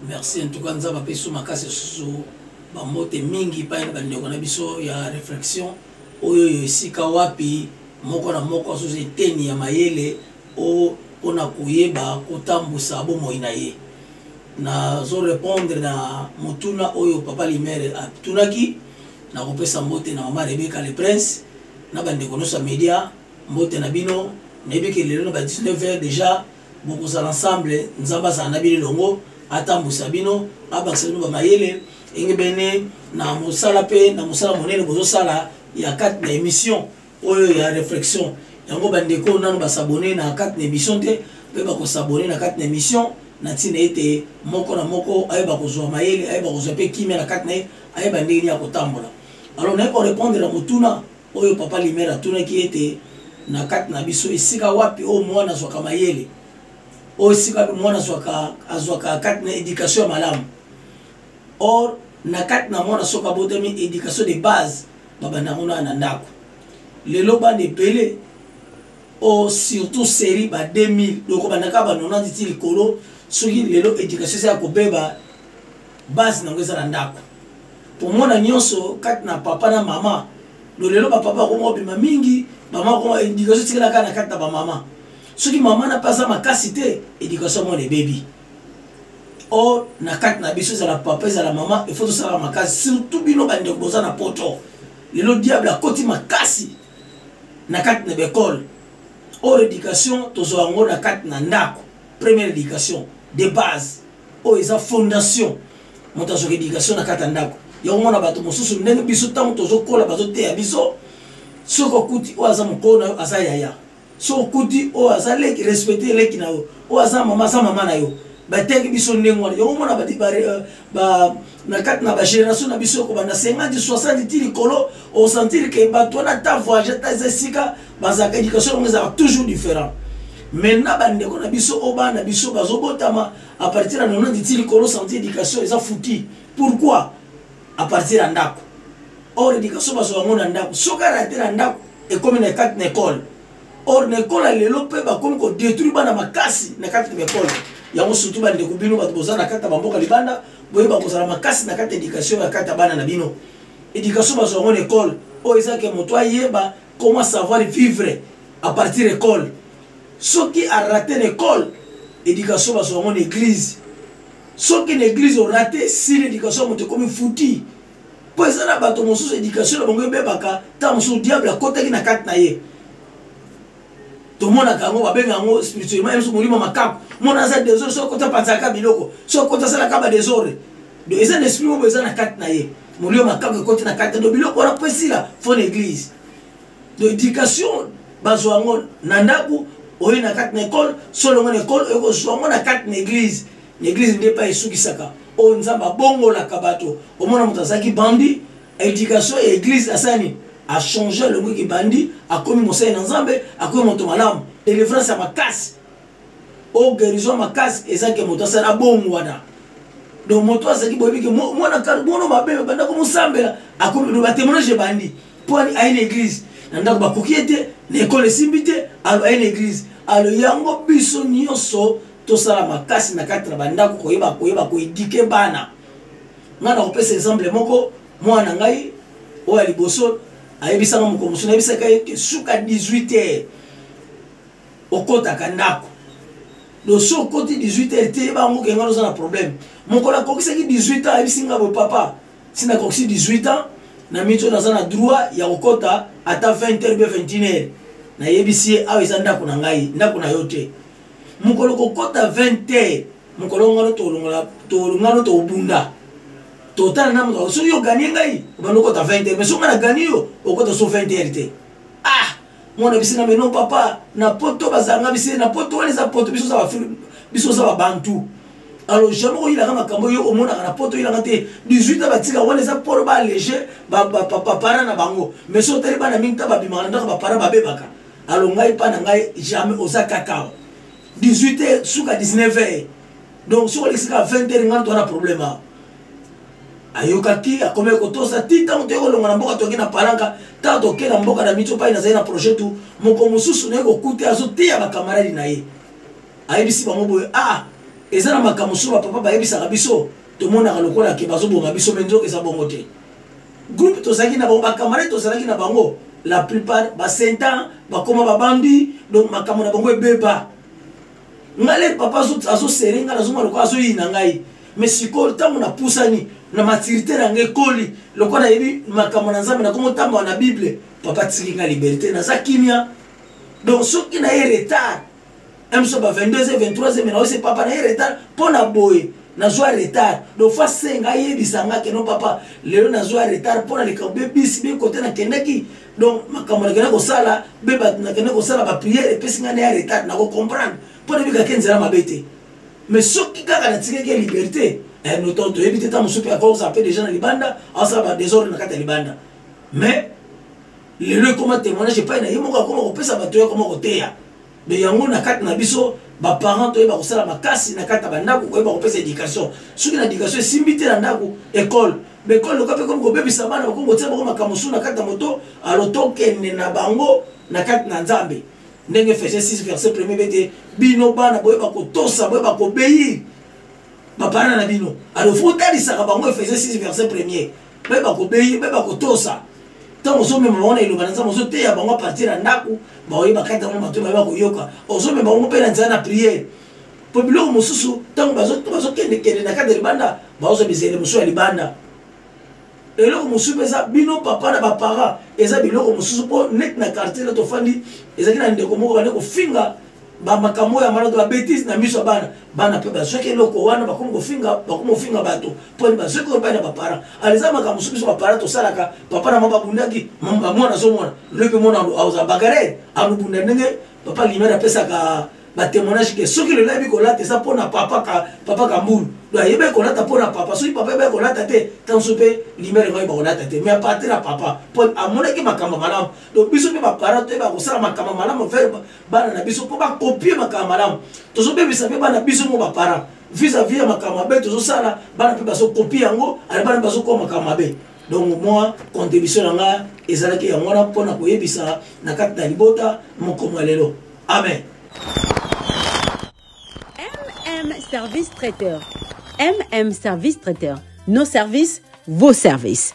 merci en tout cas nzambe apesi makasi susu bambote mingi epai na bandeko na biso ya réflexion oyo oyo esika wapi moko na moko azozwa eteni ya mayele o mpona koyeba kotambwisa bomoi na ye nazo répondre na motuna oyo papa limere atunaki nakopesa mbote na mama rebeka le prince na bandeko nyonso ya média mbote na bino nayebi ke lelo na ba 19 heures déjà bokozala ensemble nzambe azala na bino elongo atambwisa bino abakisa bino bamayele engebene na mosala mpe na mosala monene bozosala ya kati na émission oyo ya réflexion yango bandeko nano basabone na kati na émission te mpe bakosabone na kati na émission na ntina ete moko na moko ayeba kozwa mayele ayeba kozwa mpe kimia na kati na ye ayeba ndenge nini ya kotambola alors naye korépondre na motuna oyo Papa Limere atunaki ete na kati na biso esika wapi oyo mwana azwaka mayele oyo esika wapi mwana azwaka kati na éducation ya malamu or na kati na mwana soki abotami éducation de base babanda yango na na ndako lelo bana ebele o surtout série ba 2000 loko bandaka ba 90 ti likolo soki lelo éducation eza ya kobeba base nango eza na ndako tomona nyonso kati na papa na mama lo lelo bapapa akoma obima mingi mama akoma edikation etikala kaka na kati na bamama soki mama na mpe aza makasi te edikation mwana ebebi or na kati na biso ezala papa ezala mama efo tosalaka makasi surtout bino bandeko boza na poto lelo diable akoti makasi na kati na baekole or education tozwa yango na kati na ndako première education de base oyo oh, eza fondation moto azwaka éducation na kati ya ndako ya komona bato mosusu ndenge biso ntango tozokola bazoteya biso soki okuti oyo aza mokolo na yo aza yaya soki okuti oyo aza leki respecte leki na yo oyo aza mama aza mama na yo bateki biso ndenge wana yango omona na kati na bagénération na biso kobanda 50 60 ti likolo osentire ke bato wana ata voyage ata eza esika bazalaka éducation yango ezalaka toujours différent maintenant bandeko na biso oyo bana na biso bazobotama à partir ya 90 ti likolo santi éducation eza fouti pourquoi à partir ya ndako or éducation bazwa yango na ndako soki arate na ndako ekomi na kati na ekole or na ekole ya lelo mpe bakomi kodétruire bana makasi na kati na ekole yango surtout bandeko bino bato boza na kati ya bamboka libanda boyeba kozala makasi na kati education ya kati ya bana na bino education bazwa yango na ekole oyo eza ke moto ayeba comment savoir vivre à partir ekole soki arate na ekole education bazwa yango na eglise soki na eglise orate esili education ya moto ekomi futi mpo eza na bato mosusu education na bango ebebaka ntango mosusu diable akotaki na kati na ye tomonaka yango babenga yango spirituellement yesu molimo makaku mona aza desordre soki kota panzaka biloko soki kota asalaka ba desordre do eza na esprit moko eza na kati na ye molimo makaku ekoti na kati do biloko wana mpo esila fo na église do éducation bazwa yango na ndako oye na kati na ekole solongo na ekole oye kozwa yango na kati na église na église nde epai esukisaka oyo nzambe abongolaka bato omona moto azalaki bandi education ya eglise asala nini achange elongo kibandi akomi mosali na nzambe akomi moto malamu delivrance ya makasi o guérison makasi eza ke moto asala bongo wana donc moto azalaki boyebi ke mwana mono mabe banda komosambela akomi batemoignage ebandi mpo aye na eglise na ndako bakoki ye te na ekole esimbi te alo aye na eglise alo yango biso nyonso tosala makasi na kati na bandako koyeba koyeba koedike bana ngai nakopesa exemple moko mwana ngai oyo ya liboso ayebisaka mokolo mosusu nayebisaka ye ke suka 18 heures okotaka ndako dosi okoti 18 heures te yeba yango kengai oza na problème mokolo akokisaki 18 ans ayebisi ngai bo papa si nakokisi 18 ans na mito naza na droit ya kokota ata 20 heures be 21 heures nayebisi ye awa eza ndako na ngai ndako na yo te mokolo kokota 20 te mokolo ngano tolongola tolongano tobunda totala na moto soki oganie ngai obanda okota 20 te mais soki ngai nagani yo okota so 20 heure te ah mwana bisi na meno papa na poto bazanga bisi na poto wana eza poto biso za biso za babantu alors jamais oyilaka makambo yo omonaka na poto oyilaka te 18 ans batika wana eza polo ba allege bapara na bango mais so otali bana mingi ta babimaka na ndako bapara babebaka alo ngai mpa na ngai jamais oza kaka 18 heures suka 19 heures donc soki olekisi kaka 20 heures ngai twana problème awa ayokaki akomi kotosa ti ntango toyei kolonga na mboka toyaki na palanka ntango tokei na mboka na mitso mpai nazali na projet tu moko mosusu naye kokuta azoteya bakamaradi na ye ayebisi bango boye a ah, eza na makambo mosusu bapapa bayebisaka biso tomonaka lokola ke bazoboma biso me nzoka eza bongo te groupe tozalaki na bango bacamarade tozalaki na bango la plupart basentan bakoma babambi donc makambo na bango ebeba ngale papa azosere ngai nazomona lokola azoyina ngai mais sikoyo ntango napusani na maturité na ngai ekoli lokola nayebi makambo na nzambe nakomi otambola na bible papa tiki ngai liberté naza kimia donc soki na ye retard na biso ba 22 23 me naosi papa naye retard mpo na boye nazwa retard donc fa senga ayebisa nga keno papa lelo nazwa retard mpo na likambo be bisi be kote nakendaki donc makambo nakenda kosala be bato nakenda kosala bapriere epesi ngai naya retard nakocomprendre mpo nabikaki nzela mabe te mais soki kaka natikaki liberté eh, noto toyebi te ntango mosusu mpe akokosa mpe deja na libanda asala badesordre na kati ya libanda mais lelo ekoma témoignage epai na ye moko akoma kopesa bato ye akoma koteya me yango na kati na biso baparent toyeba kosala makasi na kati ya bandako koyeba kopesa éducation soki na éducation esimbi te na ndako ekole me ekole loka mpe komi kobebisa bana bakomi kotia bango makambo mosusu na kati ya moto alo tokende na bango na kati na nzambe ndenge efese 6 verset premier be te bino bana boyeba kotosa boyeba kobeyi bapana na bino alo fo otalisaka bango efese 6 verset premier bayeba kobeyi bayeba kotosa ntango ozomema bango na eloba na nzambe ozoteya bango apartir ya ndako baoye bakati yango bato bayeba koyoka ozomema bango mpe na nzela na priere mpo biloko mosusu ntango bazokendekende na kati ya libanda baozwa bizele mosusu ya libanda eloko mosusu mpe eza bino papa na baparent eza biloko mosusu mpo neti na quartier na tofandi ezalaki na ndeko moko bande kofinga ba makambo ya maloto ba betise na miso ya bana bana mpe bazwaki eloko wana bakomi kofinga bakomi kofinga bato mpo ni bazwaki oyo epai na baparent ala eza makambo soki biso baparent tosalaka papa na mama babundaki mwana azomona loi mpe mwana aoza bagare alobunda ndenge papa limere apesaka batémoignage ke soki lelo ayebi kolata eza mpo na papa ka, papa kambulu do ayebaki kolata mpo na papa soki papa ayebaki kolata te ntango so mpe limere ekoyeba kolata te mais apartir ya papa mpo amonaki makambo malamu donc biso mpe baparent toyeba kosala makambo malamu bana na biso mpo bakopie makambo malamu tozobebisa mpe bana biso mo baparent vis-à-vis ya makambo mabe tozosala bana mpe bazokopie yango ale bana bazokoa makambo mabe donc mwa contribution na ngai ezalaki yango wana mpo na koyebisa na kati na libota mokomo ya lelo amen mm service traiteur mm service traiteur nos services vos services